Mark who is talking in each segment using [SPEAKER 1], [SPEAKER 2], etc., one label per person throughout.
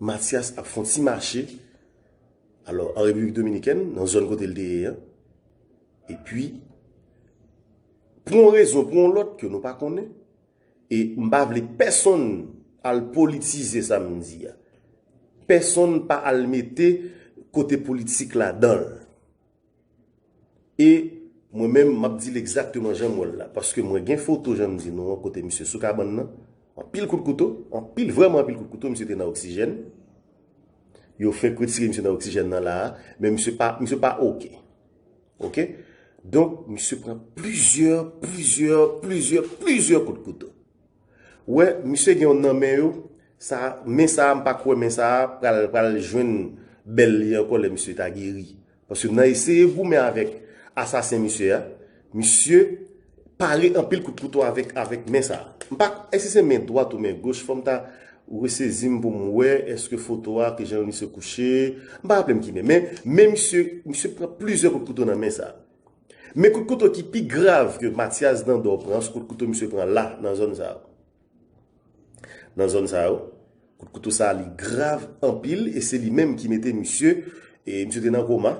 [SPEAKER 1] Matyas ap fon ti mache alò an Repiblik Dominikèn nan zòn kote l te ye an. E pi pou yon rezon pou yon lòt ke nou pa konnen e m pa vle pèsonn al politize sa m di a. Pèsonn pa al mete kote politik ladan l. E mwen menm map dil egzakteman janm wèl la paske mwen gen foto janm di nou an kote misye sou kabann nan anpil kout kouto anpil vrèman anpil kout kouto misye te nan oksijèn yo fèk retire misye nan oksijèn nan la men misye pa misye pa ok ok donk misye pran plizyè plizyè plizyè plizyè kout kouto Wè misye gen yon nan men yo sa men sa a m pa kwè men sa a pral pral jwenn bèl li ankò lè misye ta geri paske nan eseye goumen avèk asasen misye a misye pare anpil kout kouto avèk avèk men sa a m pa èske se men dwat ou men goch fò m ta resezi m pou m wè èske foto a ki jan misye kouche m pa raple m ki men men men misye misye pran plizyè kout kouto nan men sa a. Men kout kouto ki pi grav ke Matyas Dandò pran, se kout kouto misye pran la, nan zòn sa yo. Nan zòn sa yo. Kout kouto sa li grav anpil e se li menm ki mete misye, e misye te nan koma.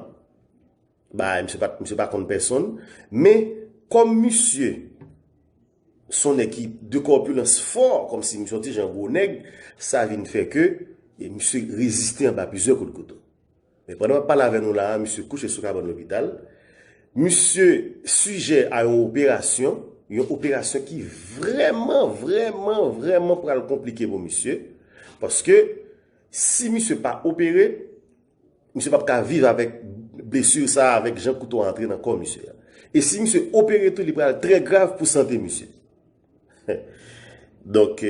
[SPEAKER 1] Ba e misye pat, misye pa konn pèsonn. Men, kòm misye, son nèg ki de kòpilans fò, kòm si misye yon ti jan gwo nèg, sa vin fè ke, e misye reziste anba plizyè kout kouto. Men pandan map pale avè nou la a misye kouche sou kabann lopital. Misye sijè a yon operasyon, yon operasyon ki vrèman, vrèman, vrèman pral konplike pou misye. Paske si misye pa opere, misye pap ka viv avèk blesur sa a, avèk jan kouto a antre nan kò misye a. E si misye opere tou li pral trè grav pou sante misye. Donk.